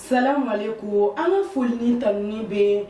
Salamu alayikum an ka foli ni tanuni bɛ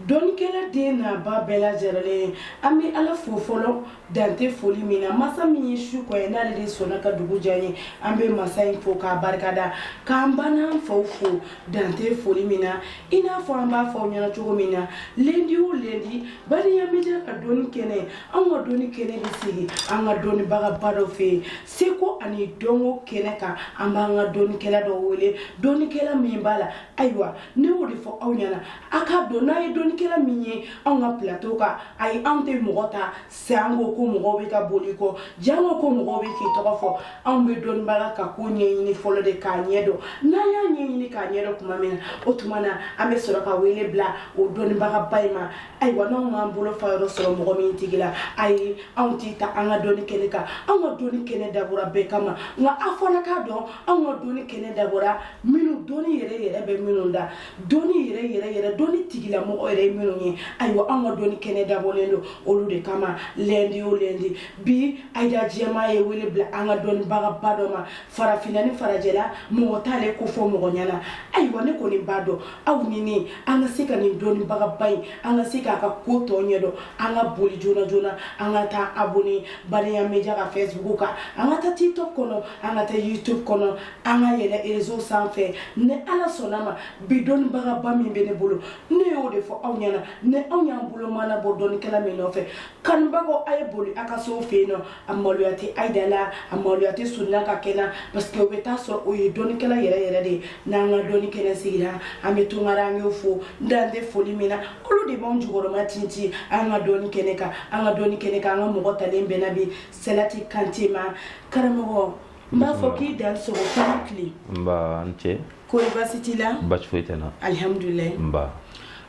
dɔnnikɛla den n'a ba bɛɛ lajɛrɛlen an bɛ ala fo fɔlɔ dan tɛ foli min na masa min ye su kɔ ye n'ale de sɔnna ka dugu diya ye an bɛ masa in fo k'a barikada k'an ba n'an faw fo dan tɛ foli min na i n'a fɔ an b'a fɔ aw ɲɛna cogo min na lɛndi o lɛndi baliya media ka dɔnni kɛnɛ an ka dɔnni kɛnɛ bɛ sigi an ka dɔnnibagaba dɔ fɛ yen seko ani dɔnko kɛnɛ kan an b'an ka dɔnnikɛla dɔ wele dɔnnikɛla min b'a la ayiwa ne y'o de fɔ aw ɲɛna a k'a dɔn n'a ye dɔnnikɛla min ye anw ka plateau kan ayi anw tɛ mɔgɔ ta sanko ko mɔgɔw bɛ ka boli i kɔ janko ko mɔgɔw bɛ k'i tɔgɔ fɔ anw bɛ dɔnnibaga ka ko ɲɛɲini fɔlɔ de k'a ɲɛ dɔn n'an y'a ɲɛɲini k'a ɲɛ dɔn tuma min na o tuma na an bɛ sɔrɔ ka wele bila o dɔnnibagaba in ma ayiwa n'anw m'an bolo fa yɔrɔ sɔrɔ mɔgɔ min tigi la ayi anw t'i ta an ka dɔnni kɛnɛ kan anw ka dɔnni kɛnɛ dabɔra bɛɛ kama nka a fana k'a dɔn anw ka dɔnni kɛnɛ dabɔra minnu dɔnni yɛrɛ yɛrɛ bɛ minnu da dɔnni yɛrɛ yɛrɛ yɛrɛ dɔnni tigilamɔgɔ yɛrɛ ye minnu ye ayiwa anw ka dɔnni kɛnɛ dabɔlen don olu de kama lɛndi o lɛndi bi ayida jɛma ye wele bila an ka dɔnnibagaba dɔ ma farafinna ni farajɛla mɔgɔ t'ale kofɔ mɔgɔ ɲɛna ayiwa ne kɔni b'a dɔn aw ni ne an ka se ka nin dɔnnibagaba in an ka se k'a ka ko tɔ ɲɛdɔn an ka boli joona joona an ka taa abonné Baliya Media ka Facebook kan an ka taa TikTok kɔnɔ an ka taa YouTube kɔnɔ an ka yɛlɛ réseau sanfɛ ni ala sɔnna ma bi dɔnnibagaba min bɛ ne bolo ne y'o de fɔ aw ɲɛna ni aw y'an bolo mana bɔ dɔnnikɛla min nɔfɛ kanubagaw a ye boli a ka se o fɛ yen nɔ a maloya tɛ ayida la a maloya tɛ sunna ka kɛ na parce que o bɛ taa sɔrɔ o ye dɔnnikɛla yɛrɛ yɛrɛ de ye n'an ka dɔnni kɛnɛ sigira an bɛ tungarankew fo dan tɛ foli min na olu de b'anw jukɔrɔma tintin an ka dɔnni kɛnɛ kan an ka dɔnni kɛnɛ kan an ka mɔgɔ talen bɛnna bi sidati kante ma karamɔgɔ N b'a fɔ k'i dansɔgɔ ko a ni tile. N ba a ni ce. Kɔri baasi t'i la? Baasi foyi tɛ n na. Alihamudulilaahi. N ba.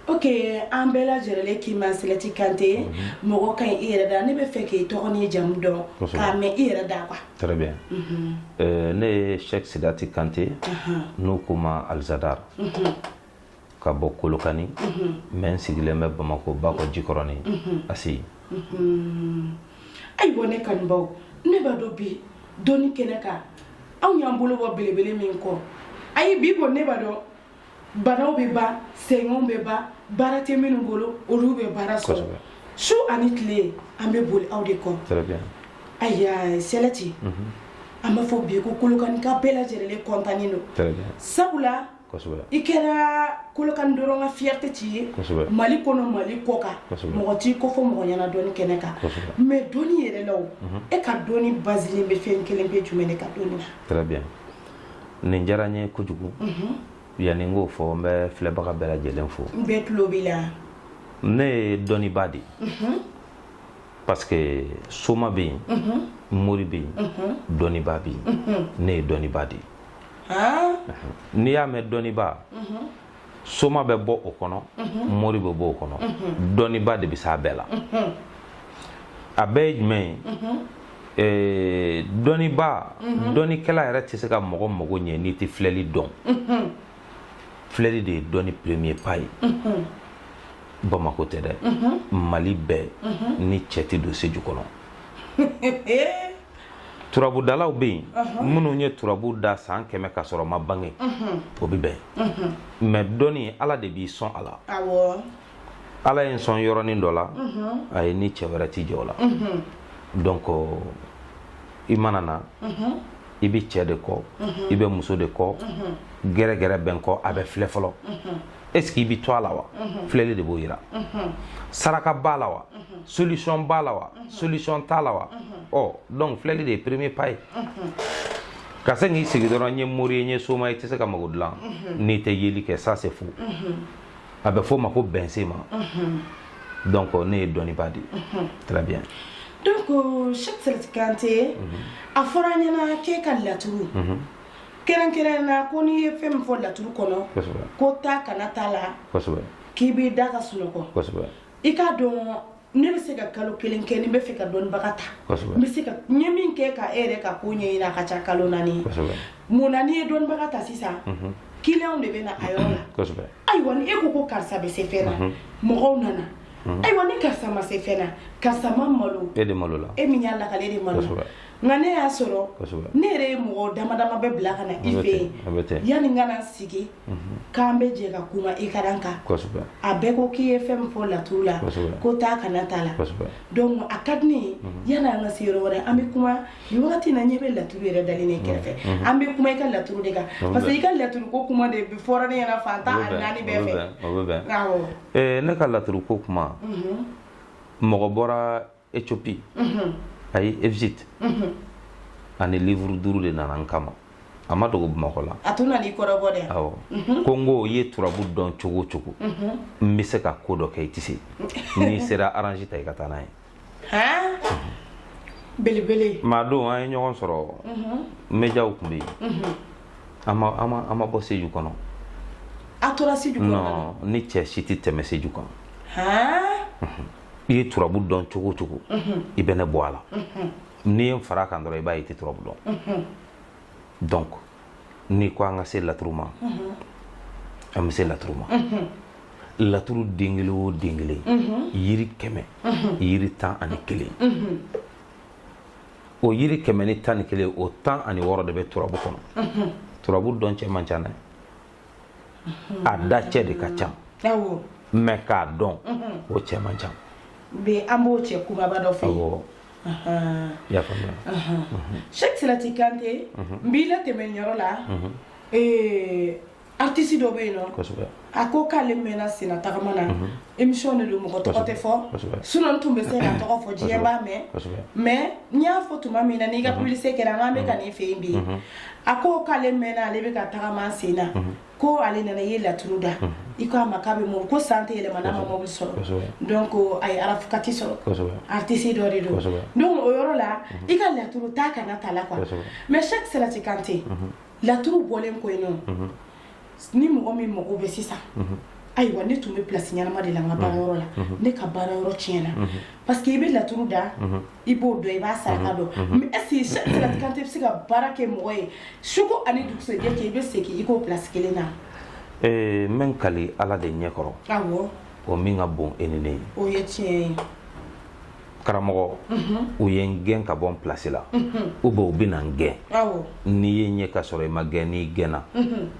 Ok an bɛɛ lajɛrɛlen k'i ma Sidati Kante. Unhun. Mɔgɔ ka ɲi i yɛrɛ da. Ne b'a fɛ k'i tɔgɔ n'i jamu dɔn. Kosɛbɛ. K'a mɛn i yɛrɛ da quoi. Très bien. Unhun. Ɛɛ ne ye Sɛki Sidati Kante. Ahan. N'u ko n ma Alijadari. Unhun. ka bɔ kolokani mais n sigilen bɛ bamakɔ bakɔ jikɔrɔni ACI ayiwa ne kanubaw ne b'a dɔn bi dɔnni kɛnɛ kan anw y'an bolo bɔ belebele min kɔ ayi bi ko ne b'a dɔn banaw bɛ ban sɛgɛnw bɛ ban baara tɛ minnu bolo olu bɛ baara sɔrɔ su ani tile an bɛ boli aw de kɔ ayiwa sidati an b'a fɔ bi ko kolokaninka bɛɛ lajɛlen kɔntannen don sabula i kɛra kolokani dɔrɔn ka fierté t'i ye mali kɔnɔ mali kɔ kan mɔgɔ t'i kɔfɔ mɔgɔ ɲɛna dɔnni kɛnɛ kan mais dɔnni yɛrɛ la o e ka dɔnni basilen bɛ fɛn kelen pe jumɛn de kan dɔnni na très bien nin diyara n ye kojugu yanni n k'o fɔ n bɛ filɛbaga bɛɛ lajɛlen fo n bɛɛ tulo b'i la ne ye dɔnniba de ye parce que soma bɛ yen mori bɛ yen dɔnniba bɛ yen ne ye dɔnniba de ye n'i y'a mɛn dɔnniba soma bɛ bɔ o kɔnɔ mori bɛ bɔ o kɔnɔ dɔnniba de bɛ se a bɛɛ la a bɛɛ ye jumɛn ye eh, dɔnniba dɔnnikɛla yɛrɛ tɛ se ka mɔgɔ mago ɲɛ n'i tɛ filɛli dɔn filɛli de ye dɔnni premier pas ye bamako tɛ dɛ mali bɛɛ ni cɛ tɛ don seju kɔnɔ turabudalaw bɛ yen minnu ye turabu da san kɛmɛ ka sɔrɔ n ma bange o bɛ bɛn mais dɔnni ala de b'i sɔn a la ala ye n sɔn yɔrɔnin dɔ la a ye ni cɛ wɛrɛ tɛ jɛ o la donc i mana na i bɛ cɛ de kɔ i bɛ muso de kɔ gɛrɛgɛrɛ bɛ n kɔ a bɛ filɛ fɔlɔ est ce que i bɛ to a la wa filɛli de b'o yira saraka b'a la wa solution b'a la wa solution t'a la wa ɔ donc filɛli de ye premier pas ye ka se k'i sigi dɔrɔn n ye mori ye n ye soma ye i tɛ se ka mago dilan n'i tɛ yeli kɛ ça c'est faux a bɛ f'o ma ko bɛnsenma donc ne ye dɔnniba de ye très bien donc cheikh salati kante a fɔra an ɲɛna k'e ka laturu kɛrɛnkɛrɛnna ko n'i ye fɛn min fɔ laturu kɔnɔ ko taa kana t'a la k'i b'i da ka sunɔgɔ i k'a dɔn ne bɛ se ka kalo kelen kɛ ni n b'a fɛ ka dɔnnibaga ta n bɛ se ka n ye min kɛ ka e yɛrɛ ka ko ɲɛɲini a ka ca kalo naani mun na n'i ye dɔnnibaga ta sisan mhm. kiliyanw de bɛ na a yɔrɔ la ayiwa ni e ko ko karisa bɛ se fɛn na mhm. mɔgɔw nana mhm. ayiwa ni karisa ma se fɛn na karisa ma malo e de malola e min y'a lakali e de malo Nka ne y'a sɔrɔ ne yɛrɛ ye mɔgɔ dama dama bɛ bila ka na i fɛ yen yanni n ka na sigi k'an bɛ jɛ ka kuma i ka kan a bɛɛ ko k'i ye fɛn min fɔ laturu la ko taa kana t'a la a ka di ne ye yanni an ka se yɔrɔ wɛrɛ an bɛ kuma nin wagati na n ɲɛ bɛ laturu yɛrɛ dalen ne kɛrɛfɛ an bɛ kuma i ka laturu de kan parce que i ka laturu ko kuma de fɔra ne ɲɛna fan tan ni naani bɛɛ fɛ ne ka laturu ko kuma mɔgɔ bɔra ethiopie ayi egypte ani livuru duuru de nana n kama a ma dogo bamakɔ la a tun nan'i kɔrɔbɔ dɛ awɔ ko n ko i ye turabu dɔn cogo o cogo n bɛ se ka ko dɔ kɛ i tɛ se n'i sera aranzi ta i ka taa n'a ye han belebele maa don an ye ɲɔgɔn sɔrɔ médiaw tun bɛ yen an ma an ma an ma bɔ seju kɔnɔ a tora seju kɔnɔ non ni cɛ si tɛ tɛmɛ seju kan han i ye turabu dɔn cogo o cogo i bɛ ne bɔ a la n'i ye n fara kan dɔrɔn i b'a ye i tɛ turabu dɔn donc n'i ko an ka se laturu ma an bɛ se laturu ma laturu den kelen o den kelen yiri kɛmɛ yiri tan ani kelen o yiri kɛmɛ ni tan ni kelen o tan ani wɔɔrɔ de bɛ turabu kɔnɔ turabu dɔn cɛ man ca dɛ a da cɛ de ka ca mais k'a dɔn o cɛ man ca bi an b'o cɛ kunbaba dɔ fɛ Cheick Salati Kante n b'i latɛmɛ yɔrɔ la artiste dɔ bɛ yen nɔn a ko k'ale mɛnna senna tagama na émission de don mɔgɔ tɔgɔ tɛ fɔ sinon n tun bɛ se ka tɔgɔ fɔ diɲɛ b'a mɛn mais n y'a fɔ tuma min na n'i ka publicité kɛra n k'an bɛ taa nin fɛ yen bi a ko k'ale mɛnna ale bɛ ka tagama sen na ko ale nana i ye laturu da i ko a ma k'a bɛ mɔ ko san tɛ yɛlɛma n'a ma mɔbili sɔrɔ donc a ye arafukati sɔrɔ kosɛbɛ artiste dɔ de don kosɛbɛ donc o yɔrɔ la i ka laturu ta kana t'a la quoi mais Cheick Salati Kante laturu bɔlen kɔ yen nɔ ni mɔgɔ min mago bɛ sisan ayiwa ne tun bɛ plasi ɲɛnama de la n ka baarayɔrɔ la ne ka baarayɔrɔ tiɲɛna paseke i bɛ laturu da i b'o dɔn i b'a saraka dɔn mais est ce que Cheick Salati Kante bɛ se ka baara kɛ mɔgɔ ye suko ani dugusɛjɛ cɛ i bɛ segin i k'o plasi kelen na n bɛ n kali ala de ɲɛkɔrɔ awɔ o min ka bon e ni ne ye o ye tiɲɛ ye karamɔgɔ u ye n gɛn ka bɔ n plasi la ou bien u bɛ na n gɛn n'i ye ɲɛ ka sɔrɔ i ma gɛn n'i gɛnna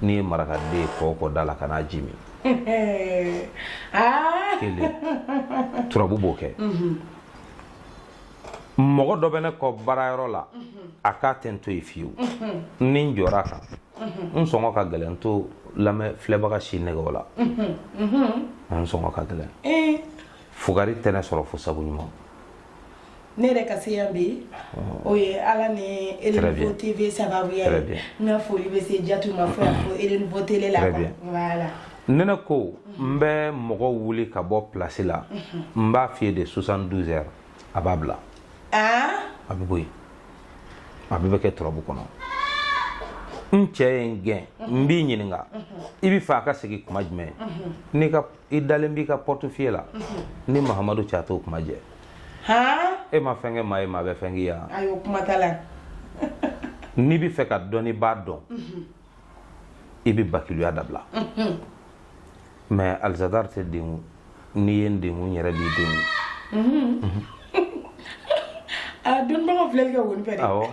n'i ye marakaden ye kɔ kɔ da la ka n'a ji min kelen turabu b'o kɛ mɔgɔ dɔ bɛ ne kɔ baarayɔrɔ la a k'a tɛ n to yen fiyewu ni n jɔra kan n sɔngɔ ka gɛlɛn n t'o lamɛn filɛbaga si nɛgɛn o la n sɔngɔ ka gɛlɛn fugari tɛ ne sɔrɔ fo sabu ɲuman ne yɛrɛ ka se yan bi o ye ala ni elenfo tv sababuya ye n ka foli bɛ se jatu ma fɔ ko elenfo tele la ne ko n bɛ mɔgɔ wuli ka bɔ plasi la n b'a f'i ye de soixante douze heures a b'a bila a bɛ bɔ yen a bɛɛ bɛ kɛ turabu kɔnɔ n cɛ ye n gɛn n b'i ɲininka i bɛ fɛ a ka segin kuma jumɛn n'i ka i dalen b'i ka portefeuille la ni mahamadu cɛ a t'o kuma jɛ e ma fɛn kɛ maa ye maa bɛ fɛn k'i ye wa n'i bɛ fɛ ka dɔn i b'a dɔn i bɛ bakiluya dabila mais alizadari tɛ dengun n'i ye n dengun n yɛrɛ b'i dengun Dɔnbagaw filɛli kɛ wari fɛ awɔ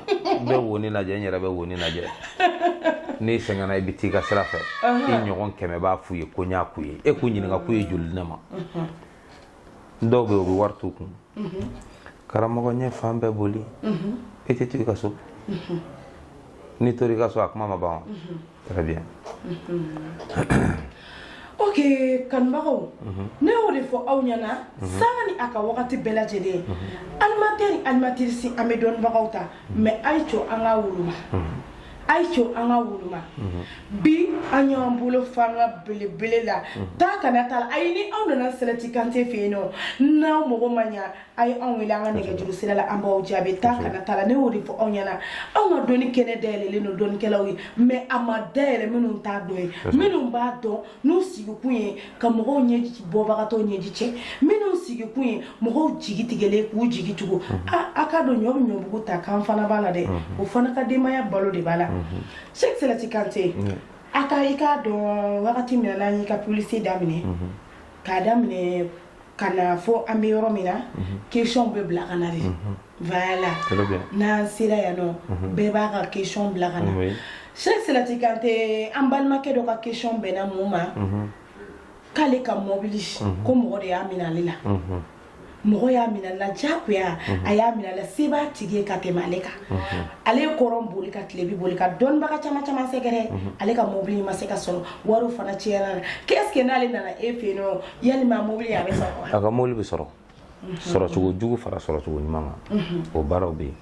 n bɛ woni lajɛ n yɛrɛ bɛ woni lajɛ n'i sɛgɛnna i bɛ taa i ka sira fɛ i ɲɔgɔn kɛmɛ b'a f'u ye ko n y'a k'u ye e k'u ɲininka k'u ye joli ne ma dɔw bɛ u bɛ wari t'u kun karamɔgɔ n ye fan bɛɛ boli e tɛ to i ka so n'i tora i ka so a kuma ma ban wa très bien ok kanubagaw ne y'o de fɔ aw ɲɛna sanga ni a ka wagati bɛɛ lajɛlen animatɛri ni animatirisi an bɛ dɔnnibagaw ta mais a ye co an ka woloma a ye co an ka woloma bi an y'an bolo fanga belebele la taa kana t'a la ayi ni aw nana sɛlɛti kante fɛ yen nɔ n'aw mago ma ɲa a ye anw wele an ka nɛgɛjuru sira la an b'aw jaabi taa kana taa la ne y'o de fɔ aw ɲɛna anw ka dɔnni kɛnɛ dayɛlɛlen don dɔnnikɛlaw ye mais a ma dayɛlɛ minnu t'a dɔn ye minnu b'a dɔn n'u sigikun ye ka mɔgɔw ɲɛji bɔbagatɔw ɲɛji cɛ minnu sigikun ye mɔgɔw jigi tigɛlen k'u jigi tugu a k'a dɔn ɲɔ bɛ ɲɔbugu ta k'an fana b'a la dɛ o fana ka denbaya balo de b'a la sɛki sɛlɛti kante a ka i k'a dɔn wagati min n'an y'i ka publicité daminɛ k'a daminɛ ka na fo an bɛ yɔrɔ min na questionw bɛ bila ka na de voilà n'an sera yan nɔ bɛɛ b'a ka question bila ka na sɛki sɛlɛti kante an balimakɛ dɔ ka question bɛnna mun ma k'ale ka mɔbili ko mɔgɔ de y'a minɛ ale la mɔgɔ y'a minɛ ale la jagoya a y'a minɛ ale la se b'a tigi ye ka tɛmɛ ale kan ale ye kɔrɔn boli ka tilebin boli ka dɔnnibaga caman caman sɛgɛrɛ ale ka mɔbili ma se ka sɔrɔ wari fana cɛnna est-ce que n'ale nana e fɛ yen yalima mobili a bɛ sɔrɔ wa? a ka mobili bɛ sɔrɔ sɔrɔcogo jugu fara sɔrɔcogo ɲuman kan o baaraw bɛ yen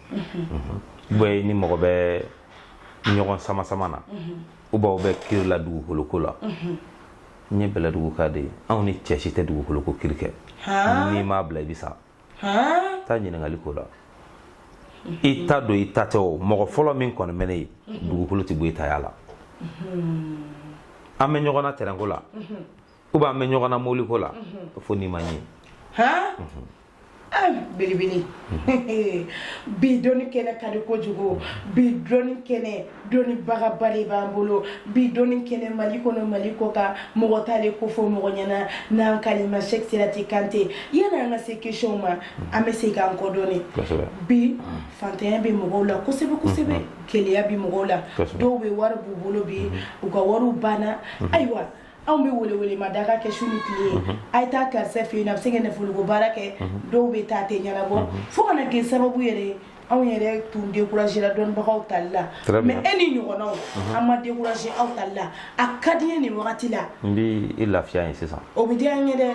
bɛ ni mɔgɔ bɛ ɲɔgɔn sama sama na ou bien aw bɛ kiri la dugukolo ko la n ye bɛlɛduguka de ye anw ni cɛ si tɛ dugukolo ko kiri kɛ n'i m'a bila i bɛ sa taa ɲininkali ko la i ta don i ta tɛ o mɔgɔ fɔlɔ min kɔni bɛ ne ye dugukolo tɛ bɔ i taya la an bɛ ɲɔgɔn na tɛrɛnko la ou bien an bɛ ɲɔgɔn na mobili ko la fo n'i ma ɲɛ belebele bi dɔnni kɛnɛ ka di kojugu bi dɔnni kɛnɛ dɔnnibagaba de b'an bolo bi dɔnni kɛnɛ mali kɔnɔ mali kɔ kan mɔgɔ t'ale ko fɔ mɔgɔ ɲɛna n'an k'ale ma sɛki sɛlɛti kante yanni an ka se questionw ma an bɛ segin an kɔ dɔɔni bi fantanya bɛ mɔgɔw la kosɛbɛ kosɛbɛ gɛlɛya bɛ mɔgɔw la dɔw bɛ wari b'u bolo bi u ka wari banna ayiwa anw bɛ welewele ma da ka kɛ su ni tile ye mhm. a ye taa karisa fɛ yen a bɛ se ka nafoloko baara kɛ mhm. dɔw bɛ taa tɛ ɲɛnabɔ mhm. fo ka na kɛ sababu yɛrɛ ye anw yɛrɛ tun découragé la dɔnnibagaw tali la mais e ni ɲɔgɔnnaw an ma découragé aw tali la a ka di n ye nin wagati la n bɛ e lafiya ye sisan o bɛ diya n ye dɛ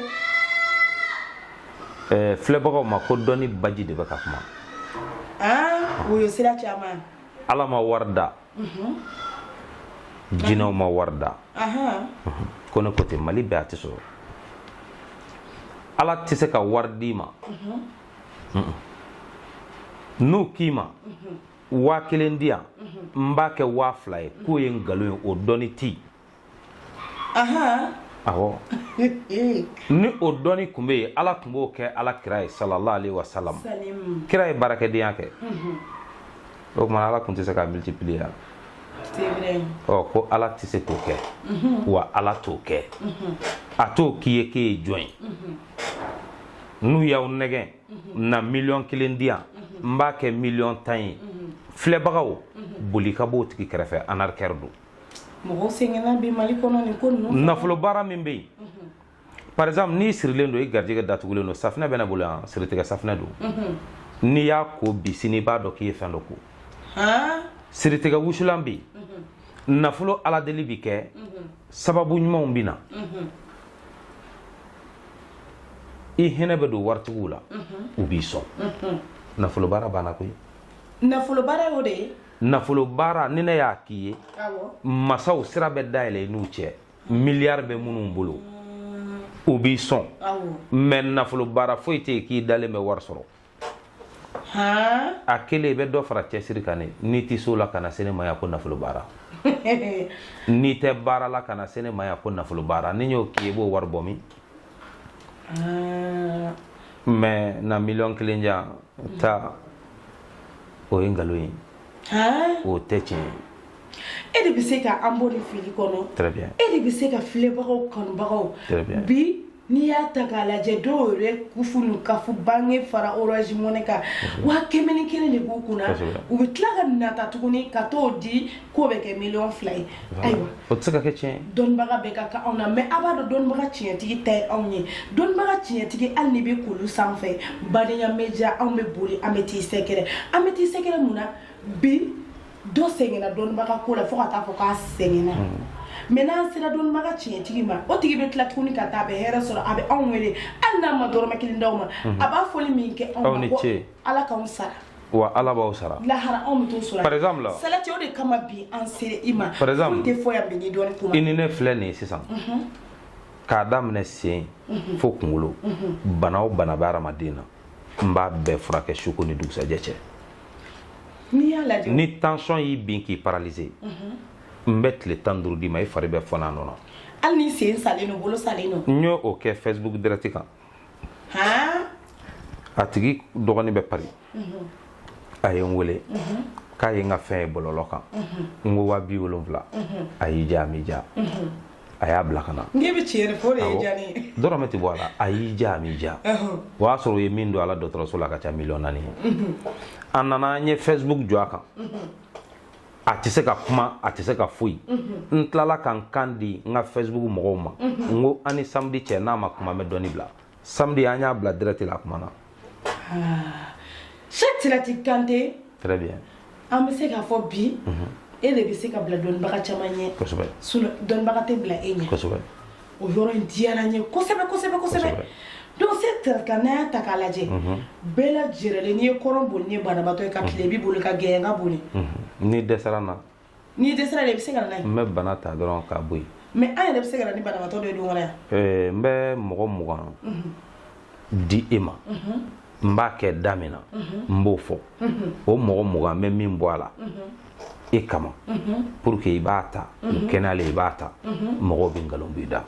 ɛɛ filɛbagaw ma ko dɔnni baji de bɛ ka kuma aa o ye sira caman ala ma wari da mhm. jinɛw ma wari da ko ne ko ten mali bɛɛ a tɛ sɔrɔ ala tɛ se ka wari d'i ma n'u k'i ma waa kelen di yan n b'a kɛ waa fila ye k'o ye nkalon ye o dɔnni tɛ yen ni o dɔnni tun bɛ yen ala tun b'o kɛ ala kira ye sallallahu alaihi wa sallam kira ye baarakɛdenya kɛ mhm. o tuma ala tun tɛ se ka multiplier yan ɔ ko ala tɛ se k'o kɛ mhm. wa ala t'o kɛ mhm. a t'o k'i ye k'e ye jɔn ye n'u y'aw nɛgɛn na miliyɔn kelen di yan n b'a kɛ miliyɔn tan ye filɛbagaw boli ka b'o tigi kɛrɛfɛ arnaqueur don mɔgɔw sɛgɛnna bi mali kɔnɔ nin ko ninnu nafolo baara min bɛ yen mhm. par exemple n'i sirilen don i garijɛgɛ datugulen don safinɛ bɛ ne bolo yan siritigɛ safinɛ don mhm. n'i y'a ko bi sini i b'a dɔn k'i ye fɛn dɔ ko siritigɛ wusulan bɛ yen mhm. nafolo aladeli bɛ kɛ sababu ɲumanw bɛ na i hinɛ bɛ don waritigiw la u b'i sɔn nafolo baara banna koyi nafolo baara y'o de ye nafolo baara ni ne y'a k'i ye masaw sira bɛ dayɛlɛ i n'u cɛ miliyari bɛ minnu bolo u b'i sɔn mais nafolo baara foyi tɛ yen k'i dalen bɛ wari sɔrɔ a kelen i bɛ dɔ fara cɛsiri kan ne n'i tɛ o la kana se ne ma yan ko nafolo baara n'i tɛ baara la kana se ne ma yan ko nafolo baara ni n y'o k'i ye i b'o wari bɔ min ah. mais na miliyɔn kelen di yan ta o ye nkalon ye ah. o tɛ tiɲɛ ye e de bɛ se ka an bɔ nin fili kɔnɔ très bien e de bɛ se ka filɛbagaw kanubagaw très bien bi n'i y'a ta k'a lajɛ dɔw yɛrɛ kufu n'u kafu banque fara orange money kan waa kɛmɛ ni kelen de b'u kunna u bɛ tila ka nata tuguni ka t'o di k'o bɛ kɛ miliyɔn fila ye ayiwa o tɛ se ka kɛ tiɲɛ ye dɔnnibaga bɛɛ ka kan anw na mais a b'a dɔn dɔnnibaga tiɲɛtigi ta ye anw ye dɔnnibaga tiɲɛtigi hali n'i bɛ kulu sanfɛ badenya média anw bɛ boli an bɛ t'i sɛgɛrɛ an bɛ t'i sɛgɛrɛ mun na bi dɔ sɛgɛnna dɔnnibaga ko la fo ka taa fɔ k'a sɛgɛnna hmm. mais n'an sera dɔnnibaga tiɲɛtigi ma o tigi bɛ tila tuguni ka taa a bɛ hɛrɛ sɔrɔ a bɛ anw wele hali n'a ma dɔrɔmɛ kelen d'anw ma hmm. a b'a foli min kɛ anw ma Ala k'an sara wa ala b'aw sara lahara anw bɛ t'o sɔrɔ par exemple la salati o de kama bi an sera i ma par exemple tɛ fɔ yan bi ni dɔnni kuma i ni ne filɛ nin ye sisan k'a daminɛ sen fo kunkolo bana o bana bɛ hadamaden na n b'a bɛɛ furakɛ su ko ni dugusajɛ cɛ n'i y'a lajɛ ni tension y'i bin k'i paralyser n bɛ tile tan duuru d'i ma i fari bɛ fɔn'a nɔ na hali ni sen salen don bolo salen don n y'o kɛ facebook direct kan a tigi dɔgɔnin bɛ Paris a ye n wele k'a ye n ka fɛn ye bɔlɔlɔ kan n ko waa bi wolonwula a y'i diya a m'i diya a y'a bila ka na n'i bɛ tiɲɛ de fɔ o de ye diya ne ye dɔrɔmɛ tɛ bɔ a la a y'i diya a m'i diya o y'a sɔrɔ u ye min don a la dɔgɔtɔrɔso la a ka ca miliyɔn naani ye a nana an ye facebook jɔ a kan a tɛ se ka kuma a tɛ se ka foyi n tilala ka n kan di n ka facebook mɔgɔw ma n ko an ni samedi cɛ n'a ma kuma n bɛ dɔnni bila samedi an y'a bila direct la a kumana salati kante très bien an bɛ se k'a fɔ bi e de bɛ se ka bila dɔnnibaga caman ɲɛ kosɛbɛ dɔnnibaga tɛ bila e ɲɛ kosɛbɛ o yɔrɔ in diyara n ye kosɛbɛ kosɛbɛ kosɛbɛ donc c'est-à-dire que n'an y'a ta k'a lajɛ bɛɛ lajɛrɛlen n'i ye kɔrɔn boli ni banabaatɔ ye ka tilebin boli ka gɛɲɛka boli n'i dɛsɛra n na n'i dɛsɛra de i bɛ se ka na n'a ye n bɛ bana ta dɔrɔn k'a bɔ yen mais an yɛrɛ bɛ se ka na ni banabaatɔ dɔ ye don wɛrɛ yan n bɛ mɔgɔ mugan di e ma n b'a kɛ da min na n b'o fɔ o mɔgɔ mugan n bɛ min bɔ a la e kama pour que i b'a ta u kɛnɛyalen i b'a ta mɔgɔw bɛ nkalon b'i da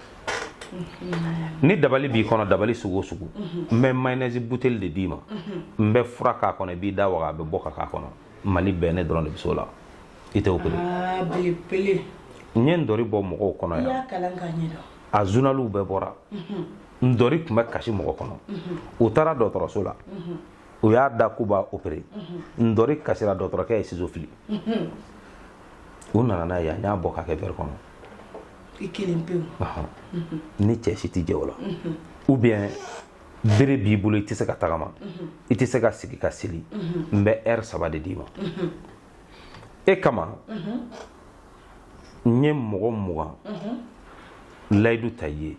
ni dabali b'i kɔnɔ dabali sugu o sugu n bɛ mayonnaise buteli de d'i ma n bɛ fura k'a kɔnɔ i b'i da waga a bɛ bɔ ka k'a kɔnɔ mali bɛɛ ne dɔrɔn de bɛ s'o la i tɛ opere n ye ntori bɔ mɔgɔw kɔnɔ yan a zunaliw bɛɛ bɔra ntori tun bɛ kasi mɔgɔ kɔnɔ u taara dɔgɔtɔrɔso la u y'a da k'u b'a opere ntori kasira dɔgɔtɔrɔkɛ ye sizo fili u nana n'a yan n y'a bɔ k'a kɛ verre kɔnɔ ni cɛ si tɛ jɛ o la ou bien bere b'i bolo i tɛ se ka tagama i tɛ se ka sigi ka seli n bɛ heure saba de d'i ma e kama n ye mɔgɔ mugan layidu ta i ye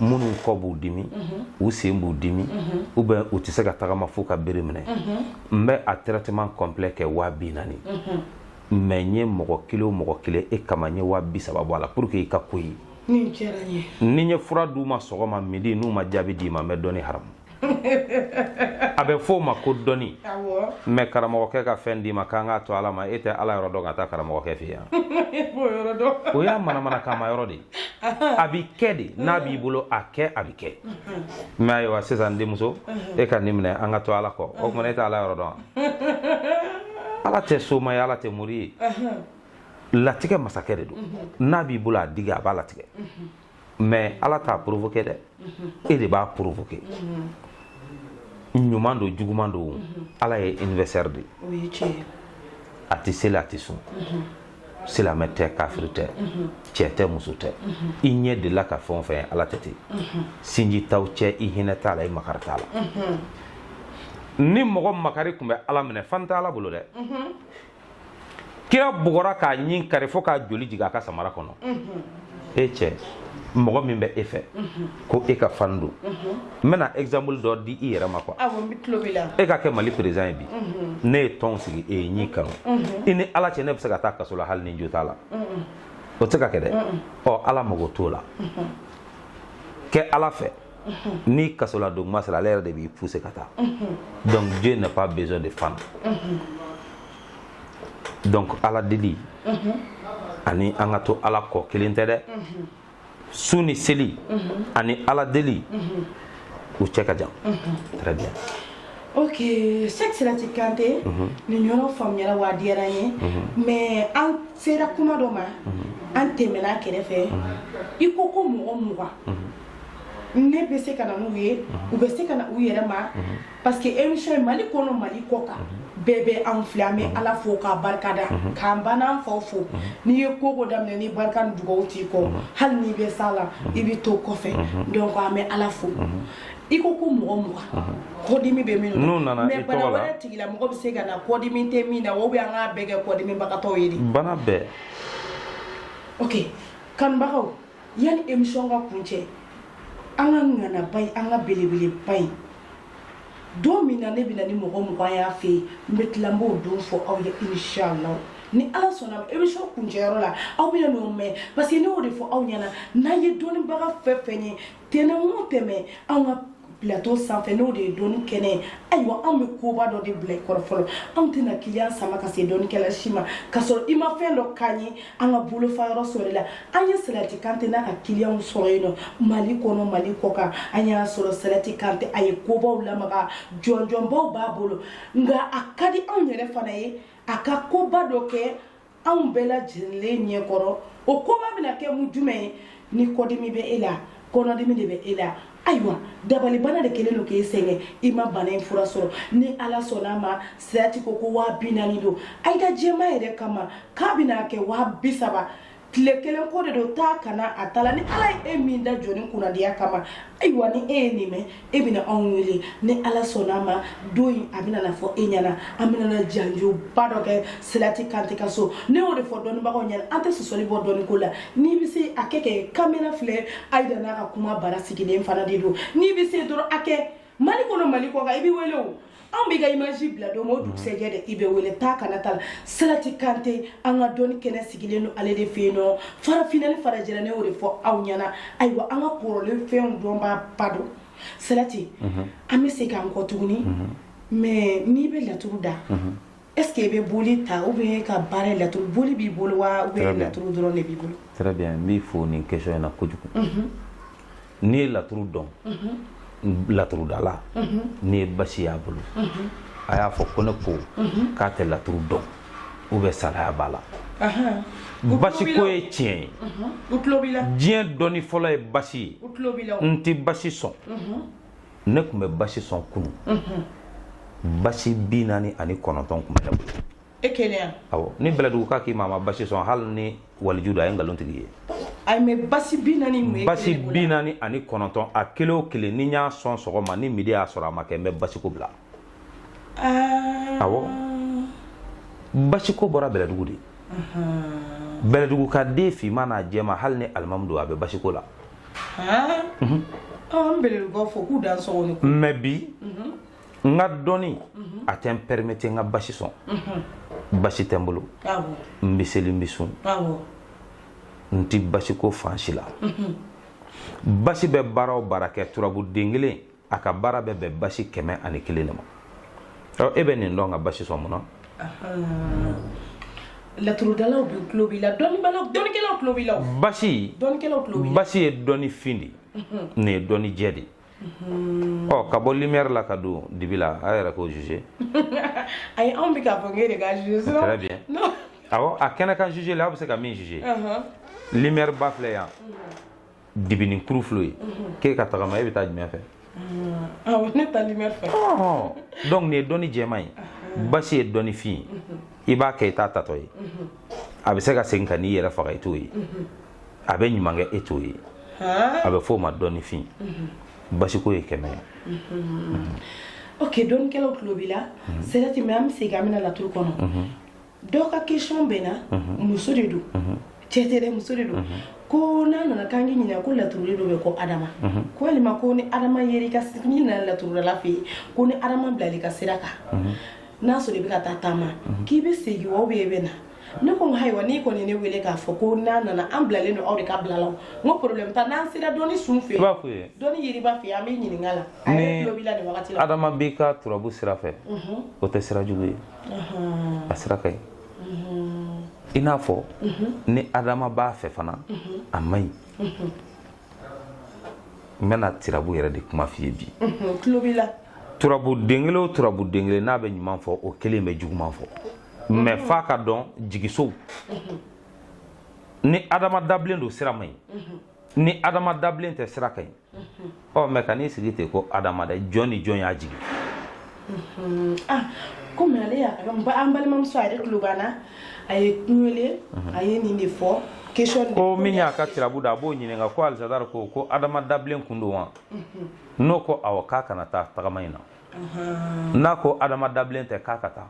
minnu kɔ b'u dimi u sen b'u dimi ou bien u tɛ se ka tagama f'u ka bere minɛ n bɛ a traitement complet kɛ waa bi naani mais n ye mɔgɔ kelen o mɔgɔ kelen e kama n ye waa bi saba bɔ a la pour que i ka ko ye ni n ye fura d'u ma sɔgɔma midi n'u ma jaabi d'i ma n bɛ dɔnni haramu a bɛ f'o ma ko dɔnni mais karamɔgɔkɛ ka fɛn d'i ma k'an k'a to ala ma e tɛ ala yɔrɔ dɔn ka taa karamɔgɔkɛ fɛ yan o y'a manamana kama yɔrɔ de a b'i kɛ de n'a b'i bolo a kɛ a bɛ kɛ mais ayiwa sisan denmuso e ka nin minɛ an ka to ala kɔ o kuma na e tɛ ala yɔrɔ dɔn ala tɛ soma ye ala tɛ mori ye latigɛ masakɛ de don n'a b'i bolo a digi a b'a latigɛ mais ala t'a provoquer dɛ e de b'a provoquer ɲuman don juguman don ala ye universel de a tɛ seli a tɛ sun silamɛ tɛ kafiri tɛ cɛ tɛ muso tɛ i ɲɛ delila ka fɛn o fɛn ala tɛ ten sinji t'aw cɛ i hinɛ t'a la i makari t'a la ni mɔgɔ makari tun bɛ ala minɛ fan tɛ ala bolo dɛ kira bugɔra k'a ɲin kari fo k'a joli jigin a ka samara kɔnɔ e cɛ mɔgɔ min bɛ e fɛ ko e ka fan don n bɛna exemple dɔ di i yɛrɛ ma quoi e ka kɛ mali président ye bi ne ye tɔn sigi e ye n y'i kanu i ni ala cɛ ne bɛ se ka taa kaso la hali ni jo t'a la o tɛ se ka kɛ dɛ ɔ ala mago t'o la kɛ ala fɛ ni kaso la don kuma sera ale yɛrɛ de b'i pousser ka taa donc Dieu n'a pas besoin de fan donc ala deli ani an ka to ala kɔ kelen tɛ dɛ sun ni seli ani ala deli u cɛ ka jan très bien ok Cheikh Salati Kante nin yɔrɔ faamuyara wa a diyara n ye mais an sera kuma dɔ ma an tɛmɛna a kɛrɛfɛ i ko ko mɔgɔ mugan ne bɛ se ka na n'u ye u bɛ se ka na u yɛrɛ ma parce que émission in Mali kɔnɔ Mali kɔkan bɛɛ bɛ anw filɛ an bɛ Ala fo k'a barikada k'an ba n'an faw fo n'i ye ko o ko daminɛ ni barika ni dugawu t'i kɔ hali n'i bɛ s'a la i bɛ to kɔfɛ donc an bɛ Ala fo i ko ko mɔgɔ mugan kɔdimi bɛ minnu na n'u nana i tɔgɔ la mais bana wɛrɛ tigilamɔgɔ bɛ se ka na kɔdimi tɛ min na ou bien an k'a bɛɛ kɛ kɔdimibagatɔw ye de bana bɛɛ ok kanubagaw Yanni émission ka kuncɛ an ka ŋanaba in an ka belebeleba in don min na ne bɛ na ni mɔgɔ mugan y'a fɛ yen n bɛ tila n b'o don fɔ aw ye inshallah ni ala sɔnna émission kuncɛyɔrɔ la aw bɛn'o mɛn parce que ne y'o de fɔ aw ɲɛna n'an ye dɔnnibaga fɛn o fɛn ye tɛnɛn o tɛnɛn an ka plateau sanfɛ n'o de ye dɔnni kɛnɛ ye ayiwa anw bɛ koba dɔ de bila i kɔrɔ fɔlɔ anw tɛna kiliyan sama ka se dɔnnikɛla si ma k'a sɔrɔ i ma fɛn dɔ k'an ye an ka bolofa yɔrɔ sɔrɔ la an ye salati kante n'a ka kiliyanw sɔrɔ yen nɔ mali kɔnɔ mali kɔkan an y'a sɔrɔ salati kante a ye kobaw lamaga jɔnjɔnbaw b'a bolo nka a ka di anw yɛrɛ fana ye a ka koba dɔ kɛ anw bɛɛ lajɛlen ɲɛ kɔrɔ o koba bɛna kɛ mun jumɛn ye ni kɔdimi bɛ e la kɔnɔdimi de bɛ e la ayiwa dabalibana de kɛlen don k'e sɛgɛn i ma bana in fura sɔrɔ ni ala sɔnna ma silati ko ko waa bi naani don ayida ka jɛma yɛrɛ kama k'a bɛna kɛ waa bi saba tile kelen ko de don taa ka na t'a la ni ala ye e min da jɔni kunnadiya kama ayiwa ni e ye nin mɛn e bɛna anw wele ni ala sɔnna ma don in a bɛna na fɔ e ɲɛna an bɛna na janjoba dɔ kɛ silati kante ka so ne y'o de fɔ dɔnnibagaw ɲɛna an tɛ sɔsɔli bɔ dɔnni ko la n'i bɛ se a kɛ kɛ kamera filɛ ayida n'a ka kuma bara sigilen fana de don n'i bɛ se dɔrɔn a kɛ mali kɔnɔ mali kɔkan i bɛ wele o anw b'i ka image bila don o dugusɛjɛ de i bɛ wele taa ka na t'a la salati kante an ka dɔnni kɛnɛ sigilen don ale de fɛ yen nɔ farafinna ni farajɛla ne y'o de fɔ aw ɲɛna ayiwa an ka kɔrɔlen fɛnw dɔnbaaba don salati an bɛ se k'an kɔ tuguni mais n'i bɛ laturu da est-ce que i bɛ boli ta ou bien ka baara la boli b'i bolo wa ou bien laturu dɔrɔn de b'i bolo très bien n b'i fo nin question in na kojugu n'i ye laturu dɔn laturudala n'i ye basi y'a bolo a y'a fɔ ko ne ko k'a tɛ laturu dɔn ou bien salaya b'a la basi ko ye tiɲɛ ye diɲɛ dɔnni fɔlɔ ye basi ye n tɛ basi sɔn ne tun bɛ basi sɔn kunu basi bi naani ani kɔnɔntɔn tun bɛ ne bolo e kelen awɔ ni bɛlɛduguka k'i ma a ma basi sɔn hali ni waliju don a ye nkalontigi ye a basi bi naani basi bi naani ani kɔnɔntɔn a kelen o kelen ni y'a sɔn sɔgɔma ni midi y'a sɔrɔ a ma kɛ n bɛ basiko bila basiko bɔra bɛlɛdugu de bɛlɛdugu ka den finman n'a jɛman hali ni alimamu don a bɛ basiko la mais bi n ka dɔnni a tɛ n permettre n ka basi sɔn basi tɛ n bolo n bɛ seli n bɛ sun n tɛ basiko fansi la basi bɛ baara o baara kɛ turabu den kelen a ka baara bɛ bɛn basi kɛmɛ ani kelen de ma e bɛ nin dɔn ka basi sɔn mun na laturudalaw bɛɛ tulo b'i la dɔnnikɛlaw tulo b'i la basi ye dɔnni fin de mhm. nin ye dɔnni jɛ de mhm. ɔ ka bɔ lumière la ka don dibi la a yɛrɛ k'o juger ayi anw bɛ k'a fɔ k'e de k'a juger sinon très bien awɔ a kɛnɛ kan juger la aw bɛ se ka min juger mhm. lumière ba filɛ yan dibinin kuru filɛ ye k'e ka tagama e bɛ taa jumɛn fɛ awɔ ne taa lumière fɛ donc nin ye dɔnni jɛman ye basi ye dɔnni fin ye i b'a kɛ i t'a taatɔ ye a bɛ se ka segin ka n'i yɛrɛ faga i t'o ye a bɛ ɲuman kɛ e t'o ye a bɛ f'o ma dɔnni fin basiko ye kɛmɛ ye ok dɔnnikɛlaw tulo b'i la silati mais an bɛ segin an bɛna laturu kɔnɔ Dɔw ka question bɛ na muso de don cɛ tɛ muso de don ko n'a nana k'an k'i ɲininka ko laturuden dɔ bɛ ko ha adama ko walima ko ni adama i ka segin na laturudala fɛ yen ko ni adama bilal'i ka sira kan n'a sɔrɔ i bɛ ka taa taama k'i bɛ segin wa ou bien i bɛ na ne ko ayiwa n'i kɔni ne wele k'a fɔ ko n'a nana an bilalen don aw de ka bila la n'o taa n'an sera dɔnni sun fɛ b'a fɔ ye dɔnni yiriba fɛ an bɛ ɲininka la adama b'i ka turabu sira fɛ o tɛ sira jugu ye a sira ka ɲi i n'a fɔ ni adama b'a fɛ fana a man ɲi n bɛna tirabu yɛrɛ de kuma f'i ye bi turabu den kelen o turabu den kelen n'a bɛ ɲuman fɔ o kelen bɛ juguman fɔ mɛ f'a ka dɔn jigisow ni adama dabilen don sira man ɲi ni adama dabilen tɛ sira ka ɲi ɔ mɛ i kan'i sigi ten ko adama dɛ jɔn ni jɔn y'a jigin komi ale y'a an balimamuso a yɛrɛ tulo b'an na a ye n wele a ye nin de fɔ question de- ko min y'a ka tirabu da a b'o ɲininka ko alisadari ko ko adama dabilen kun don wa n'o ko awɔ k'a kana taa tagama in na n'a ko adama dabilen tɛ k'a ka taa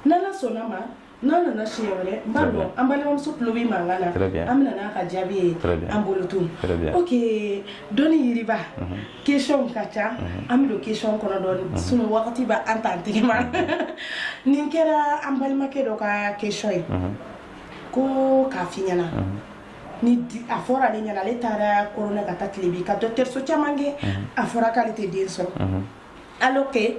n'ala sɔnna ma n'an nana siɲɛ wɛrɛ n b'a dɔn an balimamuso tulo bɛ mankan na an bɛna n'a ka jaabi ye an bolo tun ok dɔnni yiriba questionw ka ca an bɛ don question kɔnɔ dɔɔni sinon wagati bɛ an t'an tɛgɛ ma nin kɛra an balimakɛ dɔ ka question ye ko k'a f'i ɲɛna ni a fɔra ale ɲɛna ale taara kɔrɔn ka taa tilebin ka dɔgɔtɔrɔso caman kɛ a fɔra k'ale tɛ den sɔrɔ alors que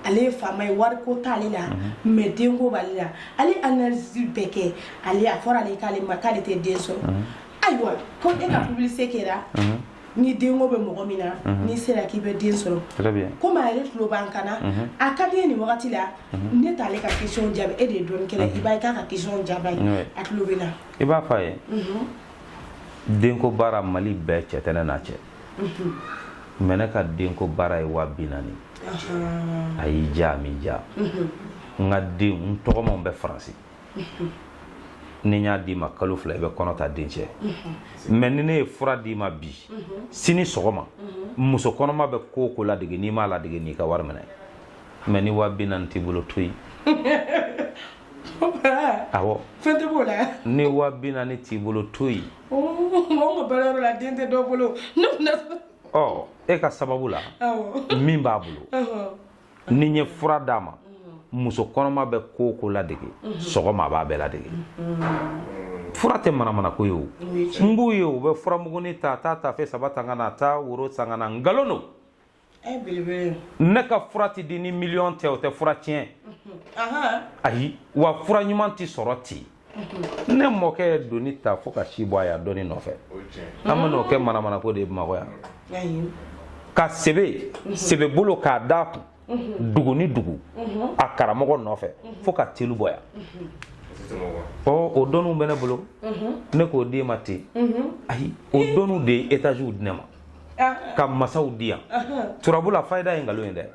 ale ye faama ye wariko t'ale la mɛ denko b'ale la ale analyse bɛɛ kɛ ale a fɔra ale k'ale ma k'ale tɛ den sɔrɔ ayiwa ko e ka publicité kɛra ni denko bɛ mɔgɔ min na n'i sera k'i bɛ den sɔrɔ komi a yɛrɛ tulo b'an kan na a ka di nin wagati la ne t'ale ka question jaabi e de ye dɔnnikɛla i b'a ka question jaabi a ye a tulo bɛ na i b'a fɔ a ye denko baara mali bɛɛ cɛ tɛ ne n'a cɛ mɛ ne ka denko baara ye waa bi naani a y'i diya a m'i diya n ka den n tɔgɔmaw bɛ faransi ni n y'a d'i ma kalo fila i bɛ kɔnɔ ta dencɛ mɛ ni ne ye fura d'i ma bi sini sɔgɔma muso kɔnɔma bɛ ko o ko ladege n'i m'a ladege n'i ka wari minɛ mɛ ni wa bi naani t'i bolo to yen awɔ fɛn tɛ b'o la ni wa bi naani t'i bolo to yen mɔgɔ ma baara yɔrɔ la den tɛ dɔ bolo ne kun ɔ e ka sababu la min b'a bolo ni n ye fura d'a ma muso kɔnɔma bɛ ko o ko ladege sɔgɔma a b'a bɛɛ ladege fura tɛ manamanako ye o n b'u ye u bɛ furamugunin ta taa tafe saba ta ka na taa woro san ka na nkalon don ne ka fura tɛ di ni miliyɔn tɛ o tɛ fura tiɲɛ ayi wa fura ɲuman tɛ sɔrɔ ten ne mɔkɛ ye doni ta fo ka si bɔ a yan dɔnni nɔfɛ an bɛ n'o kɛ manamanako de ye bamakɔ yan ka sebe sebe bolo k'a d'a kun dugu ni dugu a karamɔgɔ nɔfɛ fo ka telu bɔ yan ɔ o dɔnniw bɛ ne bolo ne k'o d'e ma ten ayi o dɔnniw de ye etaziw di ne ma ah. ka masaw di yan turabu la fayida ye nkalon ye dɛ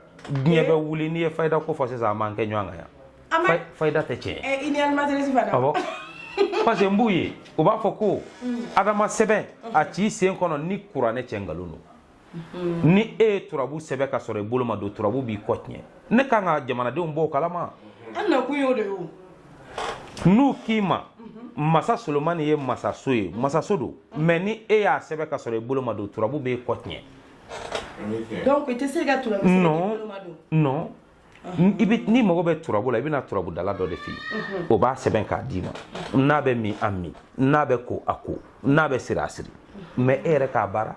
diɲɛ eh. bɛ wuli n'i ye fayida ko fɔ sisan a m'an kɛ ɲɔgɔn kan yan fayida tɛ tiɲɛ ye awɔ parce que n b'u ye u b'a fɔ ko adama sɛbɛn a t'i sen kɔnɔ ni kuranɛ cɛ nkalon don ni e ye turabu sɛbɛn ka sɔrɔ i bolo ma don turabu b'i kɔ tiɲɛ ne kan ka jamanadenw bɔ o kalama an nakun y'o de ye n'u k'i ma masa solomani ye masaso ye masaso don mais ni e y'a sɛbɛn ka sɔrɔ i bolo ma don turabu b'e kɔ tiɲɛ donc i tɛ se ka turabu sɛbɛn i bolo ma don non i bɛ n'i mago bɛ turabu la i bɛ na turabudala dɔ de fɛ yen o b'a sɛbɛn k'a d'i ma n'a bɛ min a min n'a bɛ ko a ko n'a bɛ siri a siri mais e yɛrɛ k'a baara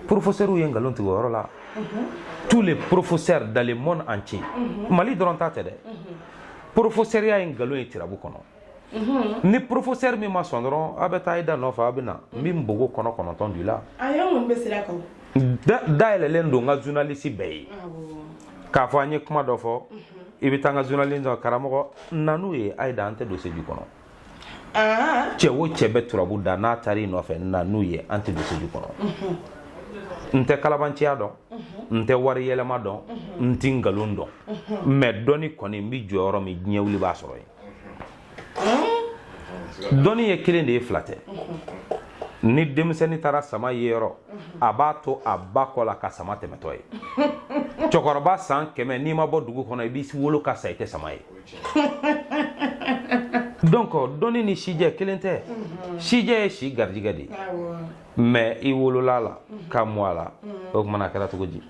porofosɛriw ye nkalon tigɛ o yɔrɔ la tous les professeurs dans le monde entier mali dɔrɔn ta tɛ dɛ porofosɛriya ye nkalon ye tirabu kɔnɔ ni porofosɛri min ma sɔn dɔrɔn a bɛ taa i da nɔfɛ a bɛ na n bɛ npogo kɔnɔ kɔnɔntɔn don i la dayɛlɛlen don n ka zunalisi bɛɛ ye k'a fɔ an ye kuma dɔ fɔ i bɛ taa n ka zunalisi dɔ karamɔgɔ na n'u ye a ye da an tɛ don seju kɔnɔ ah. cɛ o cɛ bɛ turabu da n'a taara i nɔfɛ na n'u ye an tɛ don seju kɔnɔ n tɛ kalabanciya dɔn n tɛ wari yɛlɛma dɔn n ti nkalon dɔn mais dɔnni kɔni n bɛ jɔyɔrɔ min diɲɛ wuli b'a sɔrɔ yen dɔnni ye kelen de ye fila tɛ ni denmisɛnnin taara sama ye yɔrɔ a b'a to a ba kɔ la ka sama tɛmɛtɔ ye cɛkɔrɔba san kɛmɛ n'i ma bɔ dugu kɔnɔ i bɛ wolo ka sa i tɛ sama ye donc dɔnni ni sijɛ kelen tɛ sijɛ ye si garijigɛ de ye mais i wolol'a la mhm. ka mɔ a la mhm. o tumana a kɛra cogo di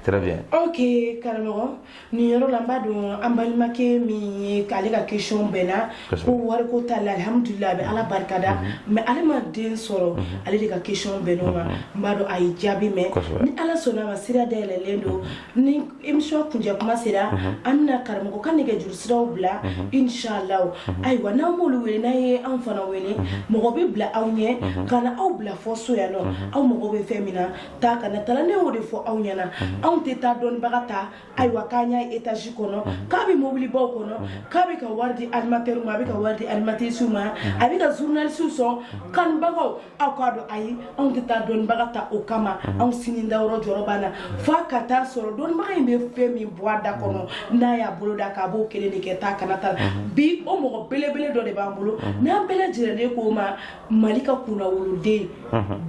Très bien. Ok, karamɔgɔ nin yɔrɔ la n b'a dɔn an balimakɛ min ye k'ale ka question bɛnna ko wariko t'a la alihamudulila a bɛ ala barikada mhm. mais ale ma den sɔrɔ mhm. ale de ka question bɛnn'o ma mhm. n b'a dɔn a ye jaabi mɛn ni ala sɔnna a ma sira dayɛlɛlen don Ni émission kuncɛ kuma sera an bɛna karamɔgɔ ka nɛgɛjuru siraw bila inshallah ayiwa n'a m'olu wele n'a ye an fana wele mɔgɔ bɛ bila aw ɲɛ ka na aw bila fo so yan nɔ aw mago bɛ fɛn min na ta ka taa ne y'o de fɔ aw ɲɛna anw tɛ taa dɔnnibaga ta ayiwa k'an y'a etazi kɔnɔ k'a bɛ mobilibaw kɔnɔ k'a bɛ ka wari di animateur ma a bɛ ka wari di animatrice ma a bɛ ka zunalisiw sɔn kanbagaw aw k'a dɔn ayi anw tɛ taa dɔnnibaga ta o kama mhm. anw sini dayɔrɔ jɔrɔ b'an na f'a ka taa sɔrɔ dɔnnibaga in bɛ fɛn min bɔ a da kɔnɔ mhm. n'a y'a bolo da k'a b'o kelen de kɛ taa kana ta mhm. bi o mɔgɔ belebele dɔ de b'an bolo n'an bɛɛ lajɛlen k'o ma mali ka kunnawoloden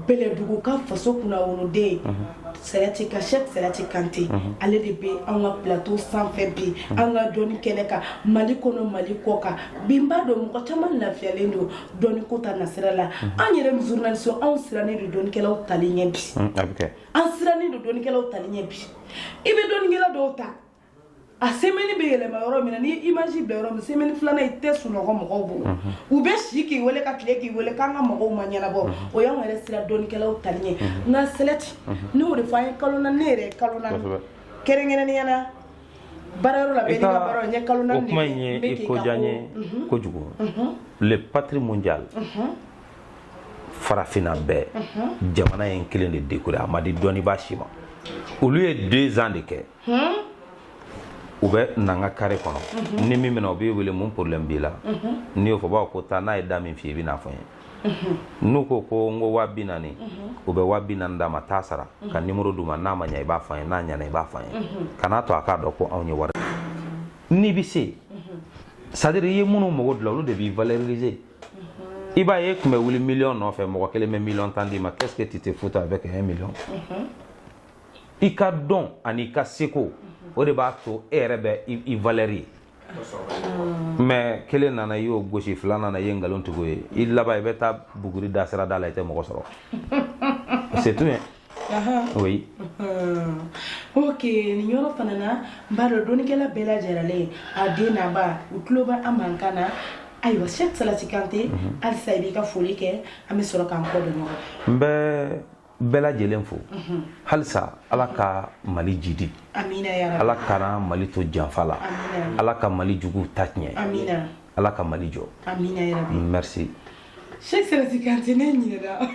bɛlɛdugu ka faso kunnawoloden sɛrɛti ka Cheikh sɛrɛti kante ale de bɛ an ka plateau sanfɛ bi an ka dɔnni kɛnɛ kan mali kɔnɔ mali kɔkan bi n b'a dɔn mɔgɔ caman lafiyalen don dɔnni ko ta nasira la an yɛrɛ même journaliste anw sirannen don dɔnnikɛlaw tali ɲɛ bi un, a bɛ kɛ an sirannen don dɔnnikɛlaw tali ɲɛ bi i bɛ dɔnnikɛla dɔw ta a semaine bɛ yɛlɛma yɔrɔ min na n'i ye image bila yɔrɔ min semaine filanan i tɛ sunɔgɔ mɔgɔw bolo u bɛ si k'i wele ka tile k'i wele k'an ka magow ma ɲɛnabɔ o y'anw yɛrɛ siran dɔnnikɛlaw tali ɲɛ nka sɛlɛti ne y'o de fɔ an ye kalo naani ne yɛrɛ ye kalo naani Kosɛbɛ. kɛrɛnkɛrɛnnenya la o kuma in ye i ko diya n ye mhm. kojugu mhm. le patrie mondial mhm. farafinna bɛɛ jamana ye kelen de décoré a ma di dɔnnibaa si ma olu ye deux ans de kɛ hmm? u bɛ n'an ka carré kɔnɔ ni min minɛ u b'i wele mun problème b'i la n'i y'o fɔ b'a fɔ ko taa n'a ye da min f'i ye i bɛ n'a fɔ n ye n'u ko ko n ko waa bi naani u bɛ waa bi naani d'a ma taa a sara ka nimoro d'u ma n'a ma ɲa i b'a fɔ n ye n'a ɲana i b'a fɔ n ye kan'a to a k'a dɔn ko anw ye wari n'i bɛ se c'est-à-dire i ye minnu mago dilan olu de b'i valoriser i b'a ye e tun bɛ wuli miliyɔn nɔfɛ mɔgɔ kelen bɛ miliyɔn tan d'i ma qu'est-ce que tu te fous avec un million i ka dɔn ani i ka seko o de b'a to e yɛrɛ bɛ i valeur ye mais kelen nana i y'o gosi fila nana i ye nkalon tig'o ye i laban i bɛ taa buguri da sira da la i tɛ mɔgɔ sɔrɔ c'est tout oui ok nin yɔrɔ fana na n b'a dɔn dɔnnikɛla bɛɛ lajɛrɛlen a den n'a ba u tulo bɛ an mankan na ayiwa Cheikh Salati kante halisa i b'i ka foli kɛ an bɛ sɔrɔ k'an kɔ don ɲɔgɔn n bɛ bɛɛ lajɛlen fo halisa ala ka mali jidi ala kana mali to janfa la ala ka mali jugu ta tiɲɛ ala ka mali jɔ merci Cheikh Sirasi Kante ne ɲinɛna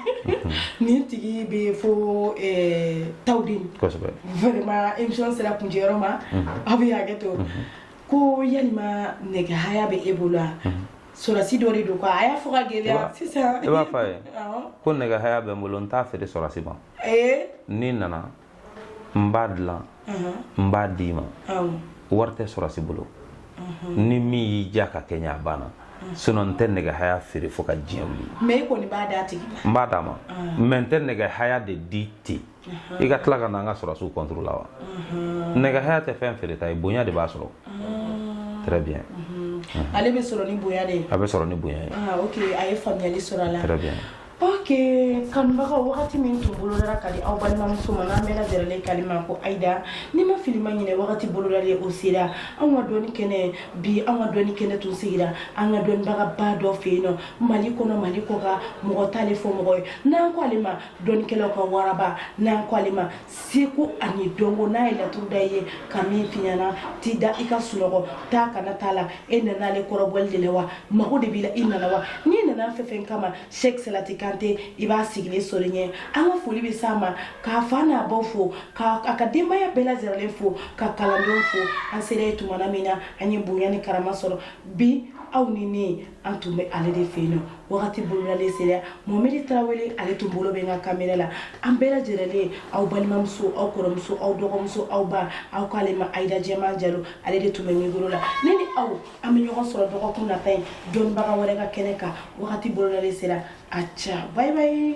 nin tigi b'i fo eh, Tawudeni kosɛbɛ vraiment émission sera kuncɛyɔrɔ ma aw bɛ hakɛ to ko yalima nɛgɛ haya bɛ e bolo wa Sɔrɔdasi dɔ de don quoi a y'a fɔ k'a gɛlɛya, i b'a, sisan, i b'a fɔ a ye, awɔ, ko nɛgɛ haya bɛ n bolo n t'a feere sɔrɔdasi ma, ee, n'i nana n b'a dilan n b'a d'i ma, awɔ, wari tɛ sɔrɔdasi bolo, ni min y'i diya k'a kɛ n ye a banna sinon n tɛ nɛgɛ haya feere fo ka diɲɛ wuli, mais i kɔni b'a d'a tigi ma, n b'a d'a ma mais n tɛ nɛgɛ haya de di ten i ka tila ka na an ka sɔrɔdasiw contre la wa nɛgɛ haya tɛ fɛn feereta ye bonya de b'a sɔrɔ très bien ale bɛ sɔrɔ ni bonya de ye a bɛ sɔrɔ ni bonya ye ah, ok a ye faamuyali sɔrɔ a la très bien ok kanubagaw wagati min tun bolodara ka di aw balimamuso ma n'an bɛɛ lajɛrɛlen k'ale ma ko ayida ni ma fili ma ɲinɛ wagati bolodalen o sera anw ka dɔnni kɛnɛ bi anw ka dɔnni kɛnɛ tun sigira an ka dɔnnibagaba dɔ fɛ yen nɔ mali kɔnɔ mali kɔkan mɔgɔ t'ale fɔ mɔgɔ ye n'an ko ale ma Dɔnnikɛlaw ka waraba n'an ko ale ma seko ani dɔnko n'a ye laturu da i ye ka min f'i ɲɛna t'i da i ka sunɔgɔ taa ka na t'a la e nana ale kɔrɔbɔli de la wa mago de b'i la i nana wa n'i nana fɛn fɛn kama sheikh salati kante i b'a sigilen sɔrɔ ɲɛ an ka foli bɛ s'a ma k'a fa n'a baw fo k'a ka denbaya bɛɛ lajɛrɛlen fo k'a kalandenw fo an sera yen tuma min na an ye bonya ni karama sɔrɔ bi aw ni ne an tun bɛ ale de fɛ yen nɔ wagati bolodalen sera mohamɛdi tarawele ale tun bolo bɛ n ka kamera la an bɛɛ lajɛrɛlen aw balimamuso aw kɔrɔmuso aw dɔgɔmuso aw ba aw k'ale ma ayida jɛman jalo ale de tun bɛ mikoro la ne ni aw an bɛ ɲɔgɔn sɔrɔ dɔgɔkun nata in dɔnnibaga wɛrɛ ka kɛnɛ kan wagati bolodalen sera a ca bye bye